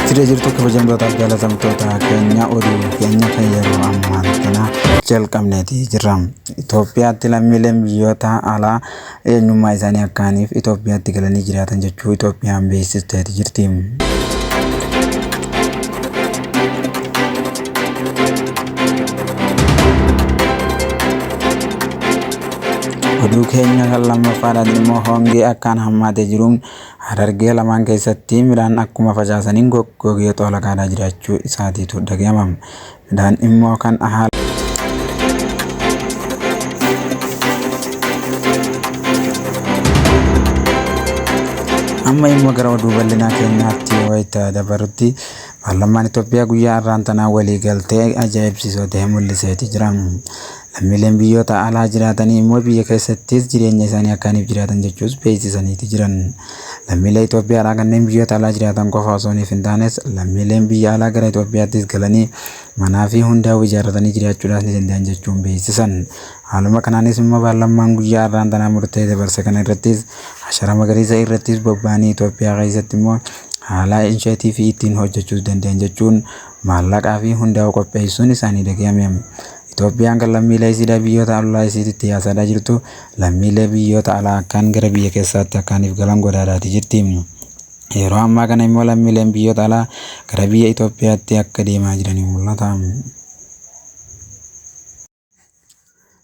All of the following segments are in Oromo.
Siree jirtu kabajamtootaaf jaalatamtoota keenya oduu keenya kan yeroo ammaa kana jalqabneeti jirra. Itoophiyaatti lammiileen biyyoota alaa eenyummaa isaanii akkaaniif Itoophiyaatti galanii jiraatan jechuu Itoophiyaan beeksisteeti jirti. Oduu keenya kan lammaffaadhaan immoo hongee akkaan hammaatee jiruun harargee lamaan keessatti midhaan akkuma facaasaniin goggogee xoolaqaadhaa jiraachuu isaatiitu dhaga'ama. Midhaan immoo kan haala amma immoo gara oduu bal'inaa keenyaatti wayita dabarutti Paarlammaan Itoophiyaa guyyaa arraan tanaa walii galtee ajaa'ibsiisoo ta'e mul'iseeti jira. Lammiileen biyyoota alaa jiraatanii immoo biyya keessattis jireenya isaanii akkaaniif jiraatan jechuus beeksisaniiti jiran. Lammiilee Itoophiyaadhaa kanneen biyyoota alaa jiraatan qofa osoo hin taanes lammiileen biyya alaa gara Itoophiyaattis galanii manaa fi hundaa'u ijaarratanii jiraachuudhaas ni danda'an jechuun beeksisan. Haaluma kanaanis immoo paarlammaan guyyaa har'aan tanaa murtee dabarse kana irrattis ashara magariisa irrattis bobba'anii Itoophiyaa keessatti immoo haala insheetii fi ittiin hojjechuus danda'an jechuun maallaqaa fi hundaa'u qopheessuun isaanii dhaga'ame. Itoophiyaan kan lammiilee isiidhaa biyyoota ollaa isiititti yaasaadhaa jirtu lammiilee biyyoota alaa akkaan gara biyya keessaatti akkaaniif galan godhaadhaati jirti. Yeroo ammaa kana immoo lammiileen biyyoota alaa gara biyya Itoophiyaatti akka deemaa jiranii mul'ata.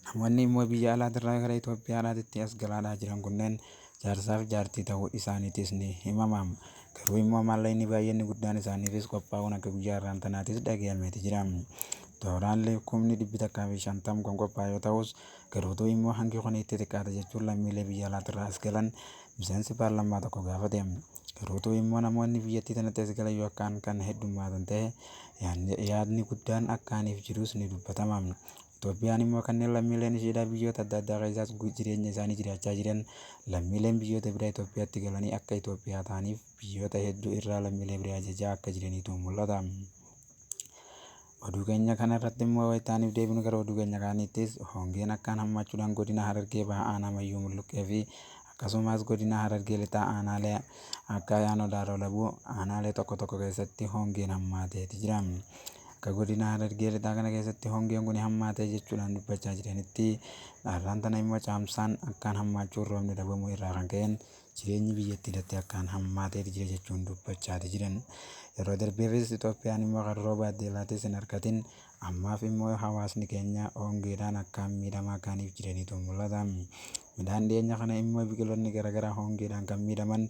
Namoonni immoo biyya alaatirraa gara Itoophiyaadhaatitti as galaadhaa jiran kunneen jaarsaaf jaartii ta'uu isaaniitis ni himama. Garuu immoo maallaqni baay'inni guddaan isaaniifis qophaa'uun akka guyyaa har'aan tanaatis dhagayameeti jira. Tooraalli kumni dhibbi takkaa fi shantam kun qophaa'e yoo ta'us garuutuu immoo hangi kun itti xiqqaata jechuun lammiilee biyya alaatirraa as galan miseensi paarlammaa tokko gaafate. Garuu utuu immoo namoonni biyyattii tanatti as galan yoo akkaan kan heddummaatan ta'e yaadni- yaadni guddaan akkaaniif jirus ni dubbatama. Itoophiyaan immoo kanneen lammiileen ishiidhaa biyyoota adda addaa keessaas gu- jireenya isaanii jiraachaa jiran lammiileen biyyoota biraa Itoophiyaatti galanii akka Itoophiyaa ta'aniif biyyoota hedduu irraa lammiilee biraa ajajaa akka jiraniitu mul'ata. Oduu keenya kana irratti immoo wayitaaniif deebinu gara oduu keenya kaaniittis hongeen akkaan hammaachuudhaan godina Harargee baha aanaa Mayyuu Mulluqqee fi akkasumas godina Harargee lixaa aanaalee akka Ayaanoo Daaroo Labuu aanaalee tokko tokko keessatti hongeen hammaateeti jira. Akka godina Harargee lixaa kana keessatti hongeen kun hammaatee jechuudhaan dubbachaa jiranitti dhaarraan tana immoo caamsaan akkaan hammaachuun roobni dhabamuu irraa kan ka'een Jireenyi biyyattiirratti akkaan hammaateeti jira jechuun dubbachaati jiran. Yeroo darbeefis Itoophiyaan immoo kan rooba addeelaatis hin argatin. Ammaaf immoo hawaasni keenya hongeedhaan akkaan miidhamaa kaaniif jiraniitu mul'ata. Midhaan dhiyeenya kana immoo biqiloonni garaagaraa hongeedhaan kan miidhaman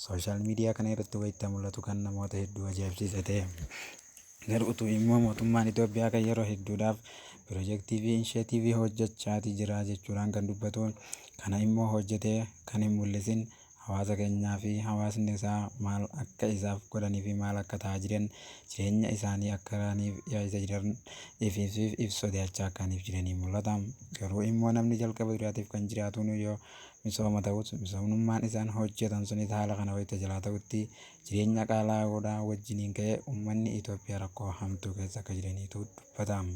sooshaal miidiyaa kana irratti wayita mul'atu kan namoota hedduu ajaa'ibsiise ta'e. Garuu utuu immoo mootummaan Itoophiyaa kan yeroo hedduudhaaf pirojektii fi insheetiivii hojjechaati jira jechuudhaan kan dubbatu, kana immoo hojjetee kan hin mul'isin hawaasa keenyaa fi hawaasni isaa maal akka isaaf godhanii fi maal akka ta'aa jiran jireenya isaanii akkaraaniif yaa isa jiran ifiifsiif if sodaachaa akkaaniif jiranii mul'ata. Garuu immoo namni jalqaba duraatiif kan jiraatuun yoo misooma ta'us misoomnummaan isaan hojjetan sunis haala kana wayita jalaa ta'utti Jireenya qaalaa'uudhaa wajjiniin ka'ee ummanni Itoophiyaa rakkoo hamtuu keessa akka jiraniitu dubbatama.